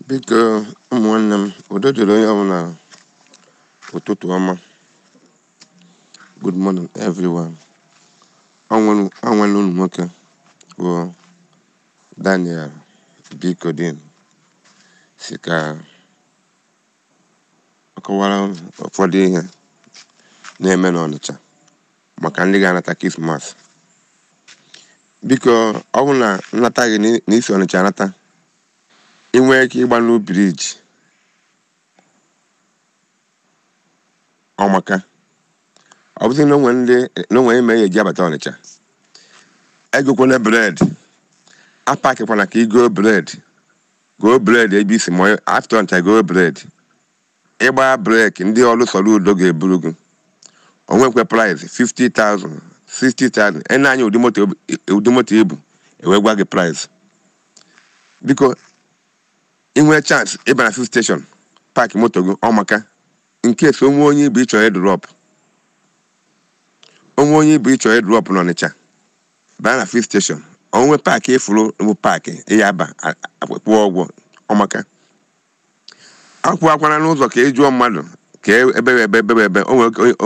biko ụmụ nwanne m udo dịrị onye ọbụla ụtụtụ ọma good morning everyone ọ nwanne unu nwoke bụ daniel bikodin sị ka ọ kọwara ụfọdụ ihe na-eme n'ọnịcha maka ndị ga-anata krismas biko ọ bụ na nnata gị na i si ọnịcha anata ị nwee ike ịgba new briji ọ maka ọ bụzi na o nwe ihe me ị ya-eji abata ọnịcha egokwana bred apakịkwana ka i goo bred goo bred ebe i si ma afta ọnịcha goo bred ị gbaa breki ndị ọrụ soludo ga-eburu gị o nwekwa price 50,000 60,000 e nee anya ụdị moto i bu e wee gwa gị price biko i nwee chance ị baa na fuel station pak moto gị ọ maka nke so o nwe onye i bu ị chọ ịdrop o nwe onye i bu ị chọ ịdrop n'ọnịcha baa na fuel station o nwe paakị ị fụrụ bụ paakị ị ya-aba kwụọ ụgwọ ọ maka akwụkwana n'ụzọ ka ị jụọ mmadụ kee ebe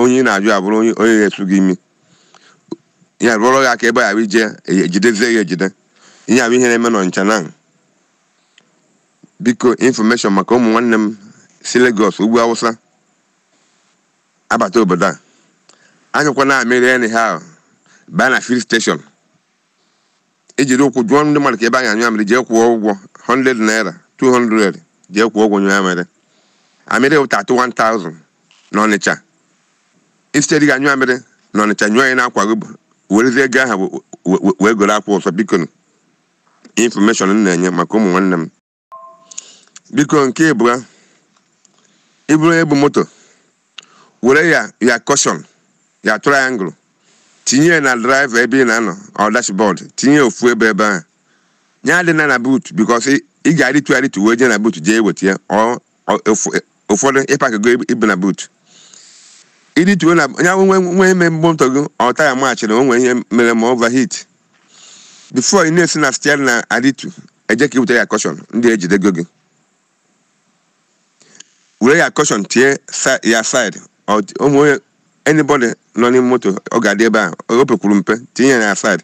onye ị na-ajụ abụrụ onye na-esu gị imi ya rụọrọ ya aka ebe ị ya-eje ejidezie ya ejide ihe a bụ ihe na-eme n'ọnịcha now biko infọmeshọn maka ụmụ nwanne m si Lagos ugwu Awụsa abata obodo a anyụkwana amịrị anyhow baa na fuel station i jiri ụkwụ jụọ ndị mmadụ kee ebe a na-anyụ amịrị jee kwụọ ụgwọ 100 naira 200 jee kwụọ ụgwọ nyụọ amịrị amịrị wụ 31,000 n'ọnịcha instead ị ga-anyụ amịrị n'ọnịcha nyụọ ya n'akwa gị werezie ego ahụ wee goro akwa ọzọ biko infọmeshọn m na-enye maka ụmụ nwanne m biko nke ịbụa ị bụrụ onye bu moto were your kọshọn your triangle tinye ya na draiva ebe ị na-anọ or dashbọd tinye ya ofu ebe ebe ahụ nya adịna na boot bikos ị ga-arịtu arịtu wee jee na boot jee weta ya ọ ụfọdụ ị pakịgo ibu na buutu ị rịtuo na o nwee ihe mere moto gị or taya machịrị o nwere ihe mere ma overheat bifo ị na-esi na steering na-arịtu eje ka i butere your kọshọn ndị a ejidego gị were your kọshọn tie ya said o nwee onye anybody nọ n'ime moto ọ ga-adị ebe a o pekwuru mpe tinye ya na said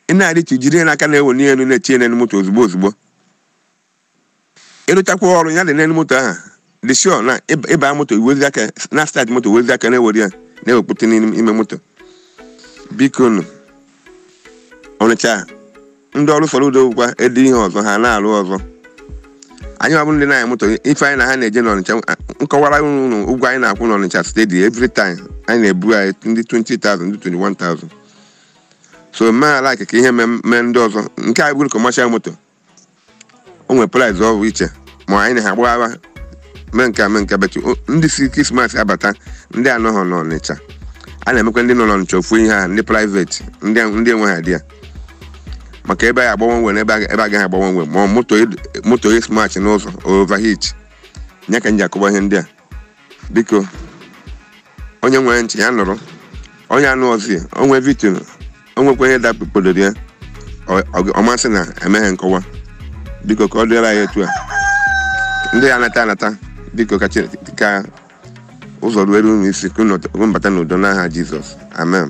ị na-arịtu jiri ya n'aka na-ewenie elu na-etinye n'elu moto ozugbo ozugbo ịrụchakwa ọrụ ya dị n'elu moto ahụ dị sure na ịba- ịba moto iwezi aka na start moto wezi aka na-ewere ya na-ewepụta n'ime ime moto bikonụ ọnịcha ndị ọrụ fọrọ udo bụkwa edi ihe ọzọ ha na-arụ ọzọ anyị bụ ndị na-anya moto ife anyị na ha na-eje n'ọnịcha m kọwara unu ụgwọ anyị na-akwụ n'ọnịcha steady every time anyị na-ebu anyị ndị 20,000 ndị 21,000 so mee ala ka ihe mee mee ndị ọzọ nke a bụrụ commercial moto o nwere price ọ bụ iche ma anyị na ha gbaghawa mee nke a mee nke betu O- ndị si krismas abata ndị anọghọ n'ọnịcha a na-emekwa ndị nọ n'ọnịcha ofu ihe ahụ ndị private ndị ndị enweghị idea maka ebe a agba one way na ebe a- ebe agaghị agba one way ma ọ moto ed- moto esmach n'ụzọ overheat nya ka m ji akọwa ihe ndị a biko onye nwere ntị ya nụrụ onye anụ ọzi onwe victim o nwekwa ihe dakpodoro ya ọ- ọ- ọ ma sị na emeghị nkọwa biko ka ọ dịrị anyị etu a ndị ya-anata anata biko ka Chineke- ka ụzọ ruere unu isi ka unu bata n'udo n'aha jizọs amen